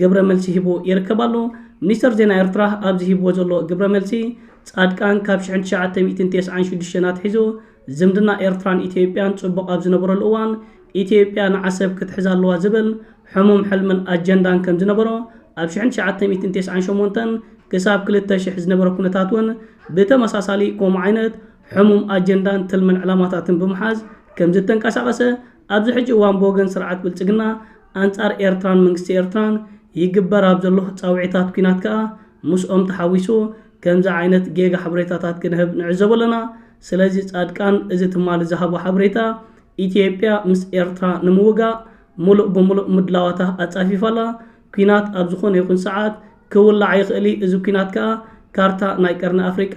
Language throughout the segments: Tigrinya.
ግብረ መልሲ ሂቡ ይርከብ ኣሎ። ሚኒስተር ዜና ኤርትራ ኣብዚ ሂብዎ ዘሎ ግብረ መልሲ፣ ጻድቃን ካብ ሽሕን ትሽዓተ ሚእትን ቴስዓን ሽዱሽተን ኣትሒዙ ዝምድና ኤርትራን ኢትዮጵያን ጽቡቕ ኣብ ዝነበረሉ እዋን ኢትዮጵያ ንዓሰብ ክትሕዛ ኣለዋ ዝብል ሕሙም ሕልምን ኣጀንዳን ከም ዝነበሮ ኣብ ሽሕን ትሽዓተ ሚእትን ቴስዓን ሸሞንተን ክሳብ ክልተ ሽሕ ዝነበረ ኩነታት እውን ብተመሳሳሊ ከምኡ ዓይነት ሕሙም ኣጀንዳን ትልምን ዕላማታትን ብምሓዝ ከም ዝተንቀሳቐሰ ኣብዚ ሕጂ እዋን ብወገን ስርዓት ብልጽግና ኣንጻር ኤርትራን መንግስቲ ኤርትራን ይግበር ኣብ ዘሎ ጻውዒታት ኲናት ከኣ ምስኦም ተሓዊሱ ከምዚ ዓይነት ጌጋ ሓበሬታታት ክንህብ ንዕዘቦ ኣለና። ስለዚ ጻድቃን እዚ ትማሊ ዝሃቦ ሓበሬታ ኢትዮጵያ ምስ ኤርትራ ንምውጋእ ምሉእ ብምሉእ ምድላዋታ ኣጻፊፋ ኣላ። ኲናት ኣብ ዝኾነ ይኹን ሰዓት ክውላዕ ይኽእል እዩ፣ እዚ ኲናት ከኣ ካርታ ናይ ቀርኒ ኣፍሪቃ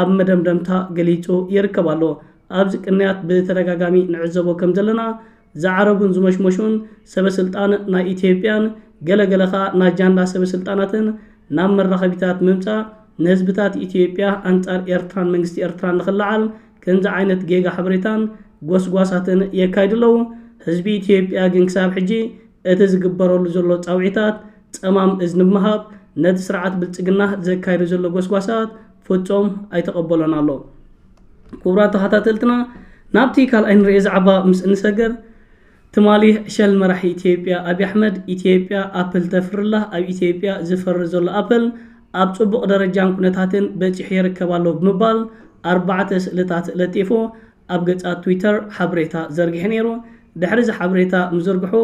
ኣብ መደምደምታ ገሊጹ ይርከብ ኣሎ። ኣብዚ ቅንያት ብተደጋጋሚ ንዕዘቦ ከም ዘለና ዝዓረጉን ዝሞሽሞሹን ሰበ ስልጣን ናይ ኢትዮጵያን ገለ ገለ ከኣ ናይ ጃንዳ ሰበ ስልጣናትን ናብ መራኸቢታት ምምጻእ ንህዝብታት ኢትዮጵያ ኣንጻር ኤርትራን መንግስቲ ኤርትራን ንኽለዓል ከምዚ ዓይነት ጌጋ ሓበሬታን ጎስጓሳትን የካይዱ ኣለዉ። ህዝቢ ኢትዮጵያ ግን ክሳብ ሕጂ እቲ ዝግበረሉ ዘሎ ጻውዒታት ጸማም እዝኒ ብምሃብ ነቲ ስርዓት ብልጽግና ዘካይዶ ዘሎ ጎስጓሳት ፍጹም ኣይተቐበሎን ኣሎ። ክቡራት ተኸታተልትና ናብቲ ካልኣይ ንርኤ ዛዕባ ምስ እንሰገር ትማሊ ዕሸል መራሒ ኢትዮጵያ ኣብይ ኣሕመድ ኢትዮጵያ ኣፕል ተፍርላ ኣብ ኢትዮጵያ ዝፈሪ ዘሎ ኣፕል ኣብ ጽቡቕ ደረጃን ኩነታትን በጺሑ ይርከብ ኣሎ ብምባል ኣርባዕተ ስእልታት ለጢፉ ኣብ ገጻት ትዊተር ሓበሬታ ዘርጊሑ ነይሩ። ድሕሪ እዚ ሓበሬታ ምዝርግሑ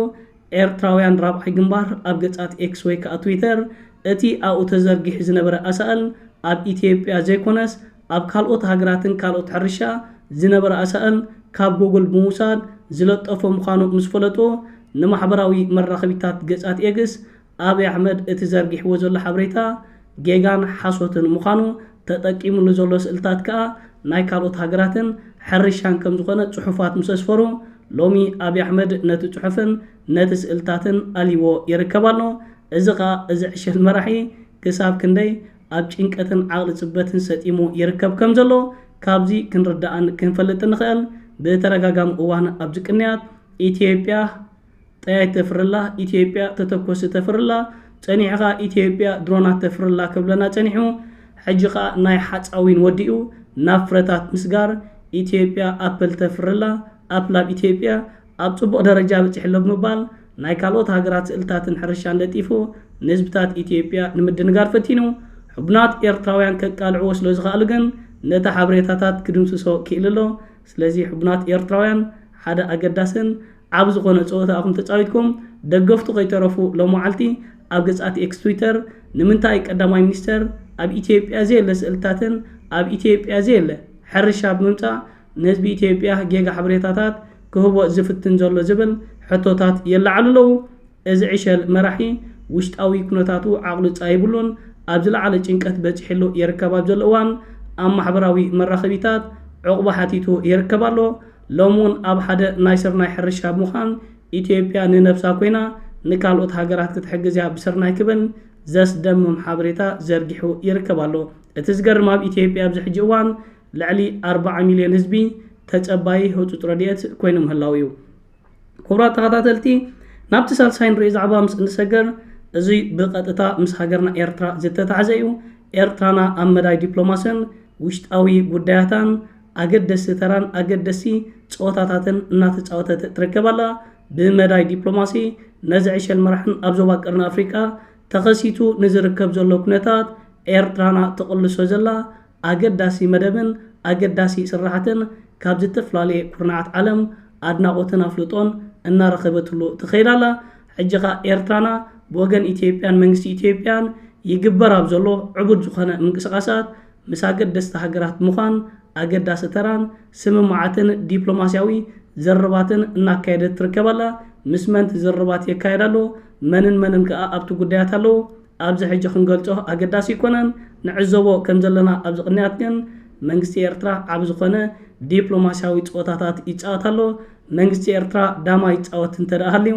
ኤርትራውያን ራብዓይ ግንባር ኣብ ገጻት ኤክስ ወይ ከኣ ትዊተር እቲ ኣብኡ ተዘርጊሑ ዝነበረ ኣሳእል ኣብ ኢትዮጵያ ዘይኮነስ ኣብ ካልኦት ሃገራትን ካልኦት ሕርሻ ዝነበረ ኣሳእል ካብ ጎጎል ብምውሳድ ዝለጠፎ ምዃኑ ምስ ፈለጡ ንማሕበራዊ መራኸቢታት ገጻት ኤግስ ኣብይ ኣሕመድ እቲ ዘርጊሕዎ ዘሎ ሓበሬታ ጌጋን ሓሶትን ምዃኑ ተጠቂምሉ ዘሎ ስእልታት ከኣ ናይ ካልኦት ሃገራትን ሕርሻን ከም ዝኾነ ጽሑፋት ምስ ኣስፈሩ ሎሚ ኣብይ ኣሕመድ ነቲ ጽሑፍን ነቲ ስእልታትን ኣልይዎ ይርከብ ኣሎ እዚ ከኣ እዚ ዕሸል መራሒ ክሳብ ክንደይ ኣብ ጭንቀትን ዓቕሊ ጽበትን ሰጢሙ ይርከብ ከም ዘሎ ካብዚ ክንርዳእን ክንፈልጥን ንኽእል ብተደጋጋሚ እዋን ኣብዚ ቅንያት ኢትዮጵያ ጠያይት ተፍርላ ኢትዮጵያ ተተኮሲ ተፍርላ ጸኒሕኻ ኢትዮጵያ ድሮናት ተፍርላ ክብለና ጸኒሑ ሕጂ ከኣ ናይ ሓጻዊን ወዲኡ ናብ ፍረታት ምስጋር ኢትዮጵያ ኣፕል ተፍርላ ኣፕላብ ኢትዮጵያ ኣብ ጽቡቕ ደረጃ በጺሕሎ ብምባል ናይ ካልኦት ሃገራት ስእልታትን ሕርሻን ለጢፉ ንህዝብታት ኢትዮጵያ ንምድንጋር ፈቲኑ ሕቡናት ኤርትራውያን ከቃልዕዎ ስለ ዝኸኣሉ ግን ነቲ ሓበሬታታት ክድምስሶ ክኢሉ ኣሎ ስለዚ ሕቡናት ኤርትራውያን ሓደ ኣገዳስን ዓቢ ዝኾነ ጸወታ እኹም ተጻዊትኩም ደገፍቱ ከይተረፉ ሎምዓልቲ ኣብ ገጻት ኤክስ ትዊተር ንምንታይ ቀዳማይ ሚኒስተር ኣብ ኢትዮጵያ ዘየለ ስእልታትን ኣብ ኢትዮጵያ ዘየለ ሕርሻ ብምምጻእ ንህዝቢ ኢትዮጵያ ጌጋ ሓበሬታታት ክህቦ ዝፍትን ዘሎ ዝብል ሕቶታት የለዓሉ ኣለዉ እዚ ዕሸል መራሒ ውሽጣዊ ኩነታቱ ዓቕሉ ጻይብሉን ኣብ ዝለዓለ ጭንቀት በጺሕሉ የርከብ ኣብ ዘሎ እዋን ኣብ ማሕበራዊ መራኸቢታት ዑቕባ ሓቲቱ የርከብ ኣሎ ሎሚ ውን ኣብ ሓደ ናይ ስርናይ ሕርሻ ብምዃን ኢትዮጵያ ንነብሳ ኮይና ንካልኦት ሃገራት ክትሕግዝ እያ ብስርናይ ክብል ዘስደምም ሓበሬታ ዘርጊሑ ይርከብ ኣሎ። እቲ ዝገርም ኣብ ኢትዮጵያ ኣብዚ ሕጂ እዋን ልዕሊ ኣርባዓ ሚልዮን ህዝቢ ተጸባዪ ህጹጽ ረድኤት ኮይኑ ምህላዉ እዩ። ክቡራት ተኸታተልቲ ናብቲ ሳልሳይ ንሪኦ ዛዕባ ምስ እንሰገር እዙይ ብቐጥታ ምስ ሃገርና ኤርትራ ዝተታሕዘ እዩ። ኤርትራና ኣብ መዳይ ዲፕሎማስን ውሽጣዊ ጉዳያታን ኣገደስቲ ተራን ኣገደስቲ ፀወታታትን እናተፃወተት ትርከብ ኣላ። ብመዳይ ዲፕሎማሲ ነዚ ዕሸል መራሕን ኣብ ዞባ ቀርኒ ኣፍሪቃ ተኸሲቱ ንዝርከብ ዘሎ ኩነታት ኤርትራና ትቕልሶ ዘላ ኣገዳሲ መደብን ኣገዳሲ ስራሓትን ካብ ዝተፈላለየ ኩርናዓት ዓለም ኣድናቖትን ኣፍልጦን እናረኸበትሉ ትኸይድ ኣላ። ሕጂ ከኣ ኤርትራና ብወገን ኢትዮጵያን መንግስቲ ኢትዮጵያን ይግበር ኣብ ዘሎ ዕቡድ ዝኾነ ምንቅስቓሳት ምስ ኣገደስቲ ሃገራት ምዃን ኣገዳሲ ተራን ስምምዓትን ዲፕሎማሲያዊ ዝርርባትን እናካየደት ትርከብ ኣላ። ምስ መንት ዝርርባት የካየድ ኣሎ፣ መንን መንን ከኣ ኣብቲ ጉዳያት ኣለዉ፣ ኣብዚ ሕጂ ክንገልጾ ኣገዳሲ ኣይኮነን። ንዕዘቦ ከም ዘለና ኣብዚ ቅንያት ግን መንግስቲ ኤርትራ ዓቢ ዝኾነ ዲፕሎማሲያዊ ጸወታታት ይጻወት ኣሎ። መንግስቲ ኤርትራ ዳማ ይጻወት እንተደኣ ሃልዩ፣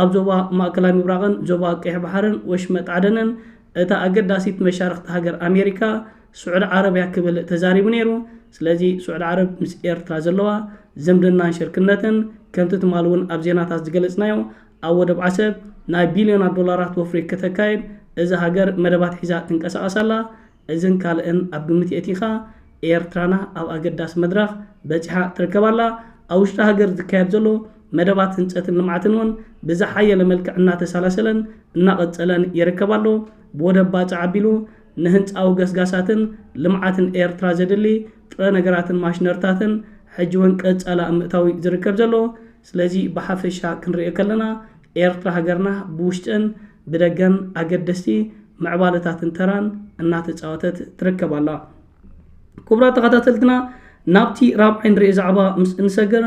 ኣብ ዞባ ማእከላይ ምብራቕን ዞባ ቀይሕ ባሕርን ወሽመጥ ዓደንን እታ ኣገዳሲት መሻርኽቲ ሃገር ኣሜሪካ ስዑዲ ዓረብያ ክብል ተዛሪቡ ነይሩ። ስለዚ ስዑዲ ዓረብ ምስ ኤርትራ ዘለዋ ዝምድናን ሽርክነትን ከምቲ ትማሊ እውን ኣብ ዜናታት ዝገለጽናዮ ኣብ ወደብ ዓሰብ ናይ ቢልዮናት ዶላራት ወፍሪ ከተካይድ እዛ ሃገር መደባት ሒዛ ትንቀሳቐስ ኣላ። እዝን ካልእን ኣብ ግምት የእቲኻ ኤርትራና ኣብ ኣገዳሲ መድረኽ በጺሓ ትርከብ ኣላ። ኣብ ውሽጢ ሃገር ዝካየድ ዘሎ መደባት ህንጸትን ልምዓትን እውን ብዝሓየለ መልክዕ እናተሳላሰለን እናቐጸለን ይርከብ ኣሎ። ብወደብ ባጽዕ ኣቢሉ ንህንጻዊ ገስጋሳትን ልምዓትን ኤርትራ ዘድሊ ጥረ ነገራትን ማሽነርታትን ሕጂ እውን ቀጻሊ ኣብ ምእታው እዩ ዝርከብ ዘሎ። ስለዚ ብሓፈሻ ክንርእዮ ከለና ኤርትራ ሃገርና ብውሽጥን ብደገን ኣገደስቲ ምዕባለታትን ተራን እናተጻወተት ትርከብ ኣላ። ኩቡራት ተኻታተልትና ናብቲ ራብዓይ ንሪኦ ዛዕባ ምስ እንሰግር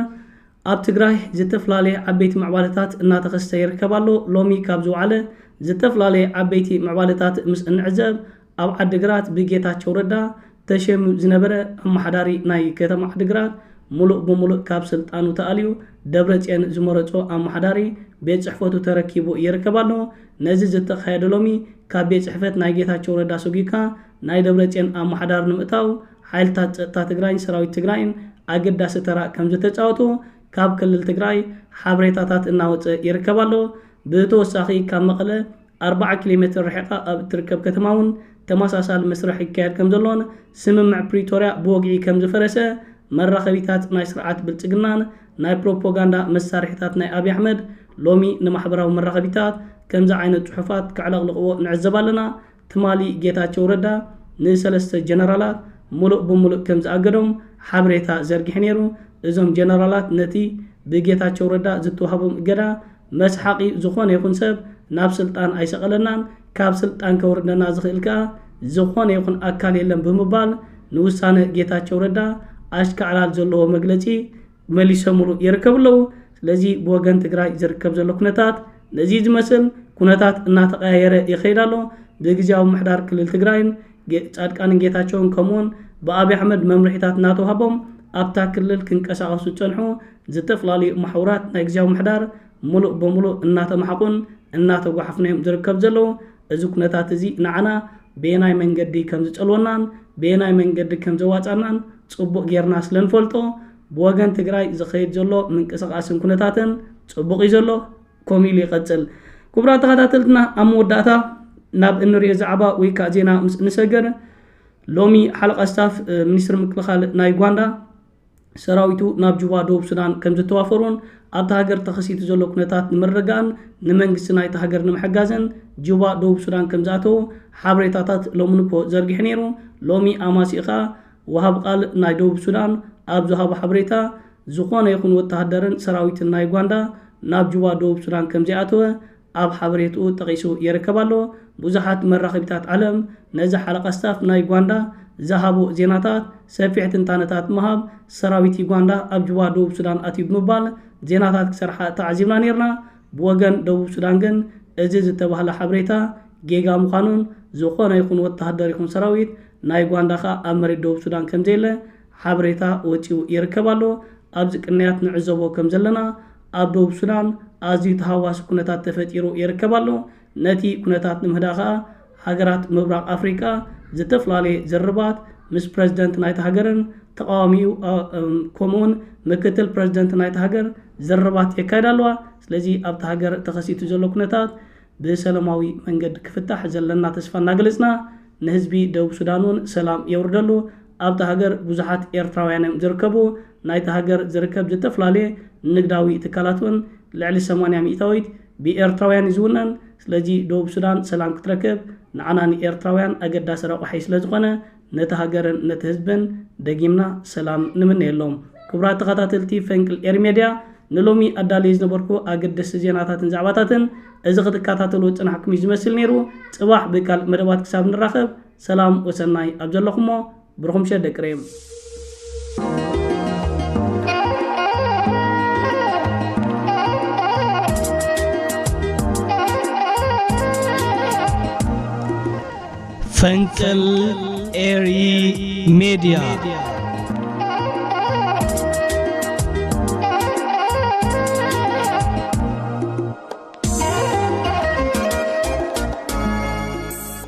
ኣብ ትግራይ ዝተፍላለየ ዓበይቲ ምዕባለታት እናተኸስተ ይርከብ ኣሎ። ሎሚ ካብ ዝወዓለ ዝተፍላለየ ዓበይቲ ምዕባለታት ምስ እንዕዘብ ኣብ ዓዲግራት ብጌታቸው ረዳ ተሸይሙ ዝነበረ ኣመሓዳሪ ናይ ከተማ ዓዲግራት ሙሉእ ብሙሉእ ካብ ስልጣኑ ተኣልዩ ደብረፅዮን ዝመረፆ ኣመሓዳሪ ቤት ፅሕፈቱ ተረኪቡ ይርከብ ኣሎ። ነዚ ዝተኻየደ ሎሚ ካብ ቤት ፅሕፈት ናይ ጌታቸው ረዳ ሰጒግካ ናይ ደብረፅዮን ኣመሓዳሪ ንምእታው ሓይልታት ፀጥታ ትግራይን ሰራዊት ትግራይን ኣገዳሲ ተራ ከምዝተፃወቱ ካብ ክልል ትግራይ ሓበሬታታት እናወፀ ይርከብ ኣሎ። ብተወሳኺ ካብ መቐለ ኣርባዓ ኪሎ ሜትር ርሒቓ ኣብ እትርከብ ከተማ እውን ተመሳሳሊ መስርሕ ይካየድ ከምዘሎን ስምምዕ ፕሪቶርያ ብወግዒ ከምዝፈረሰ መራኸቢታት ናይ ስርዓት ብልፅግናን ናይ ፕሮፖጋንዳ መሳርሒታት ናይ ኣብይ ኣሕመድ ሎሚ ንማሕበራዊ መራኸቢታት ከምዚ ዓይነት ፅሑፋት ከዕለቕልቕዎ ንዕዘብ ኣለና። ትማሊ ጌታቸው ረዳ ንሰለስተ ጀነራላት ሙሉእ ብሙሉእ ከምዝኣገዶም ሓበሬታ ዘርጊሑ ነይሩ። እዞም ጀነራላት ነቲ ብጌታቸው ረዳ ዝተውሃቦም እገዳ መስሓቒ ዝኾነ ይኹን ሰብ ናብ ስልጣን ኣይሰቐለናን፣ ካብ ስልጣን ከውርደና ዝኽእል ከኣ ዝኾነ ይኹን ኣካል የለን ብምባል ንውሳነ ጌታቸው ረዳ ኣሽካዕላል ዘለዎ መግለጺ መሊሰሙሉ ይርከቡ ኣለዉ። ስለዚ ብወገን ትግራይ ዝርከብ ዘሎ ኩነታት ነዚ ዝመስል ኩነታት እናተቐያየረ ይኸይድ ኣሎ። ብግዝያዊ ምምሕዳር ክልል ትግራይን ጻድቃንን ጌታቸውን ከምኡውን ብኣብይ ኣሕመድ መምርሒታት እናተውሃቦም ኣብታ ክልል ክንቀሳቐሱ ዝጸንሑ ዝተፈላለዩ መሓውራት ናይ ግዝያዊ ምምሕዳር ሙሉእ ብሙሉእ እናተማሓቑን እናተጓሓፉን እዮም ዝርከቡ ዘለዉ። እዚ ኩነታት እዚ ንዓና በየናይ መንገዲ ከም ዝጸልወናን በየናይ መንገዲ ከም ዘዋጽኣናን ጽቡቕ ጌርና ስለ ንፈልጦ ብወገን ትግራይ ዝኸይድ ዘሎ ምንቅስቓስን ኩነታትን ጽቡቕ እዩ ዘሎ ከምኡ ኢሉ ይቐጽል። ክቡራት ተኸታተልትና ኣብ መወዳእታ ናብ እንሪኦ ዛዕባ ወይ ከዓ ዜና ምስ እንሰገር ሎሚ ሓለቃ ስታፍ ሚኒስትሪ ምክልኻል ናይ ዩጋንዳ ሰራዊቱ ናብ ጁባ ደቡብ ሱዳን ከምዘተዋፈሮን ኣብታ ሃገር ተኸሲቱ ዘሎ ኩነታት ንምርግጋእን ንመንግስቲ ናይታ ሃገር ንምሕጋዝን ጁባ ደቡብ ሱዳን ከምዝኣተዉ ሓበሬታታት ሎሚ ንግሆ ዘርጊሑ ነይሩ። ሎሚ ኣማሲኡ ከኣ ወሃቢ ቃል ናይ ደቡብ ሱዳን ኣብ ዝሃቦ ሓበሬታ ዝኾነ ይኹን ወተሃደርን ሰራዊትን ናይ ዩጋንዳ ናብ ጁባ ደቡብ ሱዳን ከምዘይኣተወ ኣብ ሓበሬትኡ ጠቒሱ የርከብ ኣሎ። ብዙሓት መራኸቢታት ዓለም ነዚ ሓለቓ ስታፍ ናይ ዩጋንዳ ዝሃቦ ዜናታት ሰፊሕ ትንታነታት ምሃብ፣ ሰራዊት ዩጋንዳ ኣብ ጁባ ደቡብ ሱዳን ኣትዩ ብምባል ዜናታት ክሰርሓ ተዓዚብና ኔርና። ብወገን ደቡብ ሱዳን ግን እዚ ዝተባህለ ሓበሬታ ጌጋ ምዃኑን ዝኾነ ይኹን ወተሃደር ይኹን ሰራዊት ናይ ዩጋንዳ ከኣ ኣብ መሬት ደቡብ ሱዳን ከምዘየለ ሓበሬታ ወጺኡ ይርከብ ኣሎ። ኣብዚ ቅንያት ንዕዘቦ ከምዘለና ኣብ ደቡብ ሱዳን ኣዝዩ ተሃዋሲ ኩነታት ተፈጢሩ ይርከብ ኣሎ። ነቲ ኩነታት ንምህዳ ከኣ ሃገራት ምብራቕ ኣፍሪቃ ዝተፍላለየ ዝርርባት ምስ ፕረዚደንት ናይታ ሃገርን ተቓዋሚኡ ከምኡውን ምክትል ፕረዚደንት ናይታ ሃገር ዝርርባት የካይዳ ኣለዋ። ስለዚ ኣብታ ሃገር ተኸሲቱ ዘሎ ኩነታት ብሰለማዊ መንገዲ ክፍታሕ ዘለና ተስፋ እናገለጽና ንህዝቢ ደቡብ ሱዳን እውን ሰላም የውርደሉ ኣብታ ሃገር ብዙሓት ኤርትራውያን እዮም ዝርከቡ። ናይታ ሃገር ዝርከብ ዝተፈላለየ ንግዳዊ ትካላት እውን ልዕሊ ሰማንያ ሚእታዊት ብኤርትራውያን እዩ ዝውነን። ስለዚ ደቡብ ሱዳን ሰላም ክትረክብ ንዓና ንኤርትራውያን ኣገዳሲ ረቋሒ ስለ ዝኾነ ነቲ ሃገርን ነቲ ህዝብን ደጊምና ሰላም ንምነየሎም። ክቡራት ተኸታተልቲ ፈንቅል ኤሪ ሜድያ ንሎሚ ኣዳልየ ዝነበርኩ ኣገደስቲ ዜናታትን ዛዕባታትን እዚ ክትከታተልዎ ዝጸናሕኩም እዩ ዝመስል ነይሩ። ጽባሕ ብካልእ መደባት ክሳብ ንራኸብ ሰላም ወሰናይ ኣብ ዘለኹሞ ብሩኹም ምሸት ደቂ ሬም። ፈንቅል ኤሪ ሜድያ